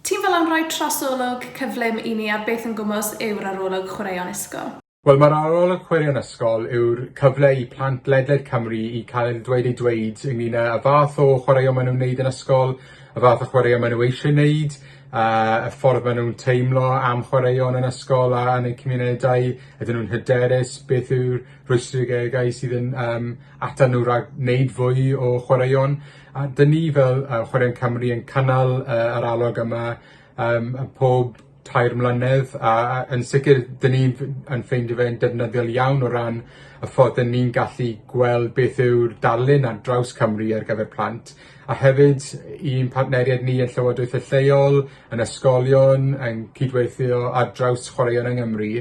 Ti'n fel am roi trosolwg cyflym i ni ar beth yn gwmws yw'r arolwg chwaraeon ysgol? Wel, mae'r arolwg chwaraeon ysgol yw'r cyfle i plant ledled Cymru i cael eu dweud eu dweud ynglŷn â y fath o chwaraeon maen nhw'n wneud yn ysgol, y fath o chwaraeon maen nhw eisiau wneud, a y ffordd maen nhw'n teimlo am chwaraeon yn ysgol a yn eu cymunedau, ydyn nhw'n hyderus, beth yw'r rhwystrigegau sydd yn yym atan nhw rhag wneud fwy o chwaraeon a 'dyn ni fel yy Chwaraeon Cymru yn cynnal yy yr alwad yma yym yy pob tair mlynedd a a yn sicir 'dyn ni f- yn ffeindio fe'n defnyddiol iawn o ran y ffordd 'yn ni'n gallu gweld beth yw'r darlun ar draws Cymru ar gyfer plant a hefyd i'n partneriaid ni yn llywodraethe lleol, yn ysgolion, yn cydweithio ar draws chwaraeon yng Ngymru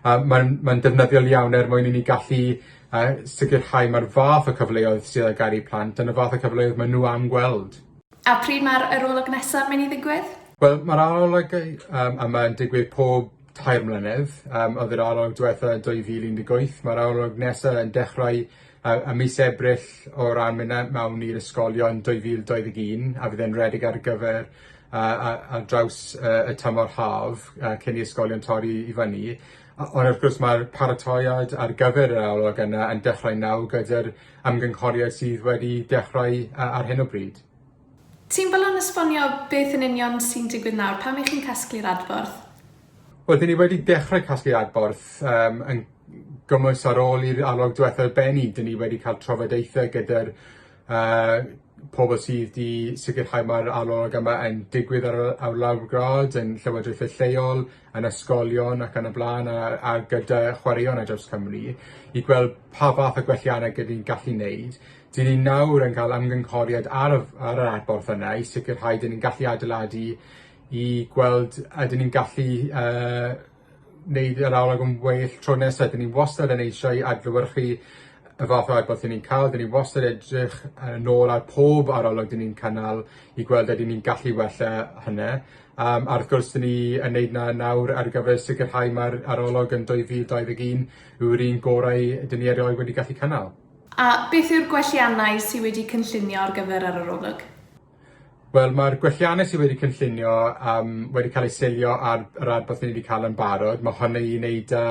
a ma'n ma'n defnyddiol iawn er mwyn i ni gallu a sicrhau mae'r fath o cyfleoedd sydd ar gael i plant yn y fath o cyfleoedd maen nhw am gweld. A pryd mae'r arolwg nesaf yn mynd i ddigwydd? Wel, mae'r arolwg um, yma yn digwydd pob tair mlynedd. Um, oedd yr arolwg diwetha 2018. Mae'r arolwg nesaf yn dechrau uh, y mis Ebrill o ran mynd mewn i'r ysgolion 2021 a fydd e'n redig ar gyfer uh, ar draws uh, y tymor haf uh, cyn i ysgolion torri i fyny. Ond wrth gwrs mae'r paratoad ar gyfer yr arolwg yna yn dechrau nawr gyda'r ymgynghoriad sydd wedi dechrau yy ar hyn o bryd. Ti'n barod esbonio beth yn union sy'n digwydd nawr? Pam 'y chi'n casglu'r adborth? Wel, dyn ni wedi dechrau casglu'r adborth yym yn gymwys ar ôl i'r arolwg diwethaf bennu. Dyn ni wedi cael trafodaethau gyda'r yy pobl sydd 'di sicirhau ma'r arolwg yma yn digwydd ar y ar lawr gwlad yn llywodraethe lleol, yn ysgolion ac yn y bla'n a a gyda chwaraeon ar draws Cymru i gweld pa fath o gwellianne gydwn ni'n gallu neud. 'Dyn ni nawr yn ca'l ymgynghoriad ar y f- ar yr adborth yna i sicirhau 'dyn ni'n gallu adeiladu i gweld ydyn ni'n gallu yy neud yr arolwg yn well tro nesa 'dyn ni wastad yn eisiau adlewyrchu y fath o adborth 'yn ni'n ca'l 'dyn ni wastad edrych yy nôl ar pob arolwg 'dyn ni'n cynnal i gweld ydyn ni'n gallu wella hynny. Yym a wrth gwrs 'dyn ni yn neud 'na nawr ar gyfer sicirhau ma'r arolwg yn dwy fil dau ddeg un yw'r un gorau 'dyn ni erioed wedi gallu cynnal. A beth yw'r gwelliannau sy wedi cynllunio ar gyfer yr arolwg? Wel ma'r gwelliannau sy wedi cynllunio yym wedi ca'l eu seilio ar yr adborth 'yn ni 'di ca'l yn barod ma' hwnna i neud â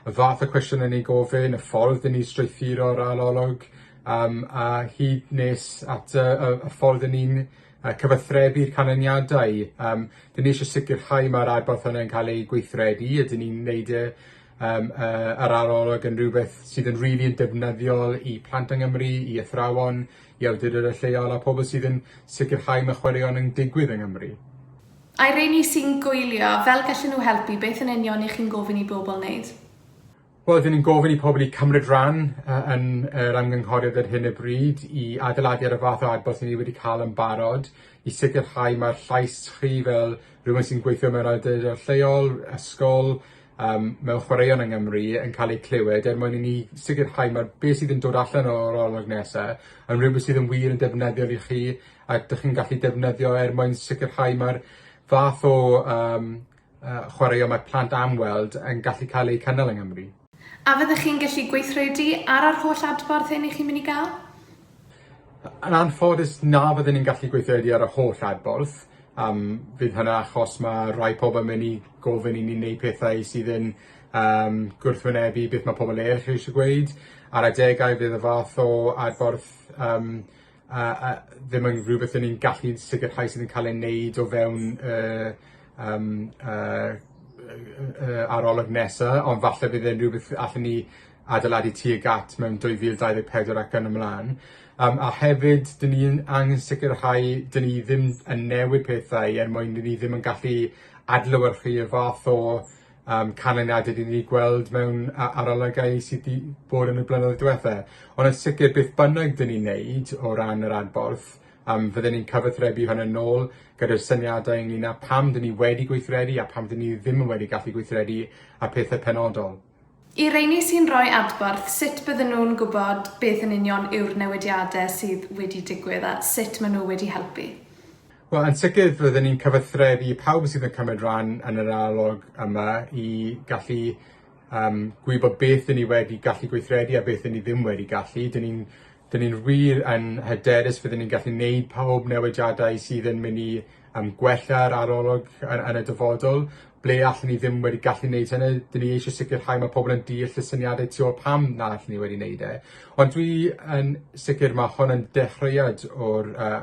y fath o cwestiwn o'n i'n gofyn, y ffordd 'yn ni strwythuro'r arolwg yym a hyd nes at y y y ffordd 'yn ni'n a cyfathrebu'r canlyniadau. Um, dyn ni eisiau sicrhau mae'r adborth hwnna'n cael ei gweithredu, a dyn ni'n neud e um, uh, yr arolwg yn rhywbeth sydd yn rili really yn defnyddiol i plant yng Nghymru, i athrawon, i awdurdod y lleol a pobl sydd yn sicrhau mae chwaraeon yn digwydd yng Nghymru. A'i rheini sy'n gwylio, fel gallen nhw helpu, beth yn union i chi'n gofyn i bobl wneud? Wel, dyn ni'n gofyn i pobl i cymryd rhan yy yn yr ymgynghoriad ar hyn o bryd i adeiladu ar y fath o adborth 'yn ni wedi ca'l yn barod i sicirhau ma'r llais chi fel rhywun sy'n gweithio mewn awdurdod lleol, ysgol yym mewn chwaraeon yng Ngymru yn ca'l eu clywed er mwyn i ni sicirhau ma' be' sydd yn dod allan o'r olwg nesa yn rwbeth sydd yn wir yn defnyddiol i chi ac 'dych chi'n gallu defnyddio er mwyn sicirhau ma'r fath o yym uh, chwaraeon mae plant am weld yn gallu cael eu cynnal yng Nghymru. A fyddech chi'n gallu gweithredu ar yr holl adborth hyn i chi'n mynd i gael? Yn anffodus na fydden ni'n gallu gweithredu ar y holl adborth. Um, fydd hynna achos mae rhai pobl yn mynd i gofyn i ni wneud pethau sydd yn um, gwrthwynebu beth mae pobl eraill eisiau gweud. Ar adegau fydd y fath o adborth um, a a ddim yn rhywbeth 'yn ni'n gallu sicirhau sydd yn ca'l ei neud o fewn y yym y y y y arolwg nesa ond falle bydd e'n rhywbeth allwn ni adeiladu tuag at mewn dwy fil dau ddeg pedwar ac yn y mlan. Yym a hefyd 'dyn ni yn angen sicirhau 'dyn ni ddim yn newid pethau er mwyn 'dyn ni ddim yn gallu adlewyrchu y fath o yym canlyniade 'dyn ni 'di gweld mewn a- arolygau sy 'di bod yn y blynyddoedd diwetha. Ond yn sicir beth bynnag 'dyn ni'n neud o ran yr adborth yym fydden ni'n cyfathrebu hwn yn ôl gyda'r syniadau ynglŷn â pam 'dyn ni wedi gweithredu a pam 'dyn ni ddim yn wedi gallu gweithredu a pethe penodol. I reini sy'n rhoi adborth, sut bydden nhw'n gwybod beth yn union yw'r newidiade sydd wedi digwydd a sut ma' nhw wedi helpu? Wel yn sicir rydyn ni'n cyfathrebu i pawb sydd yn cymryd ran yn yr arolwg yma i gallu yym gwybod beth 'yn ni wedi gallu gweithredu a beth 'yn ni ddim wedi gallu. 'Dyn ni'n 'dyn ni'n wir yn hyderus fydden ni'n gallu neud pawb newidiadau sydd yn myn' i yym gwella'r arolwg yn yn y dyfodol. Ble allwn ni ddim wedi gallu neud hynny 'dyn ni eisie sicirhau ma' pobol yn deall y syniade tu ôl pam na allwn ni wedi neud e. Ond dwi yn sicir ma' hwn yn dechreuad o'r yy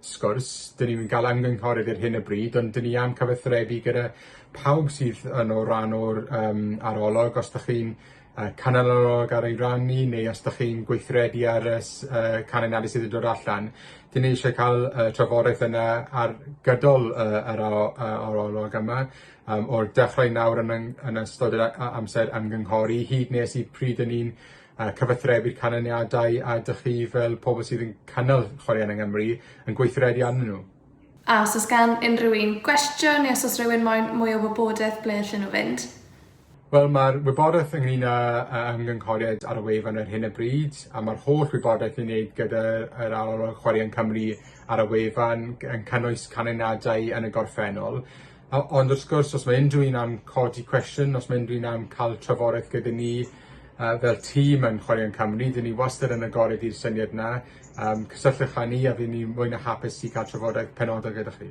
sgwrs. Dyn ni'm yn ga'l ymgynghorydd ar hyn o bryd ond 'dyn ni am cyfathrebu gyda pawb sydd yn o ran o'r yym arolwg os dach chi'n yy canol arolwg ar ei ran ni neu os dach chi'n gweithredu ar y s- yy can anafu sydd yn dod allan 'dyn ni isie ca'l y trafodaeth yna ar gydol y yr aro- yy arolwg yma yym o'r dechrau nawr yn yng- yn ystod yr a- a- amser ymgynghori hyd nes i pryd 'yn ni'n a cyfathrebu'r canlyniadau a dych chi fel pobl sydd yn cynnal chwaraeon yng Nghymru yn gweithredu arnyn nhw. A os oes gan unrhyw un gwestiwn neu os oes rhywun moyn mwy o wybodaeth ble allan nhw fynd? Wel mae'r wybodaeth ynglyn â ymgynghoriad ar y wefan ar hyn o bryd a mae'r holl wybodaeth i wneud gyda'r Arolwg Chwaraeon Cymru ar y wefan yn cynnwys canlyniadau yn y gorffennol. O- ond wrth gwrs os ma' unryw un am codi cwestiwn os ma' unryw un am ca'l trafodaeth gyda ni yy fel tîm yn Chwaraeon Cymru 'dyn ni wastad yn agored i'r syniad 'na yym cysylltwch â ni a by' ni mwy na hapus i ca'l trafodaeth penodol gyda chi.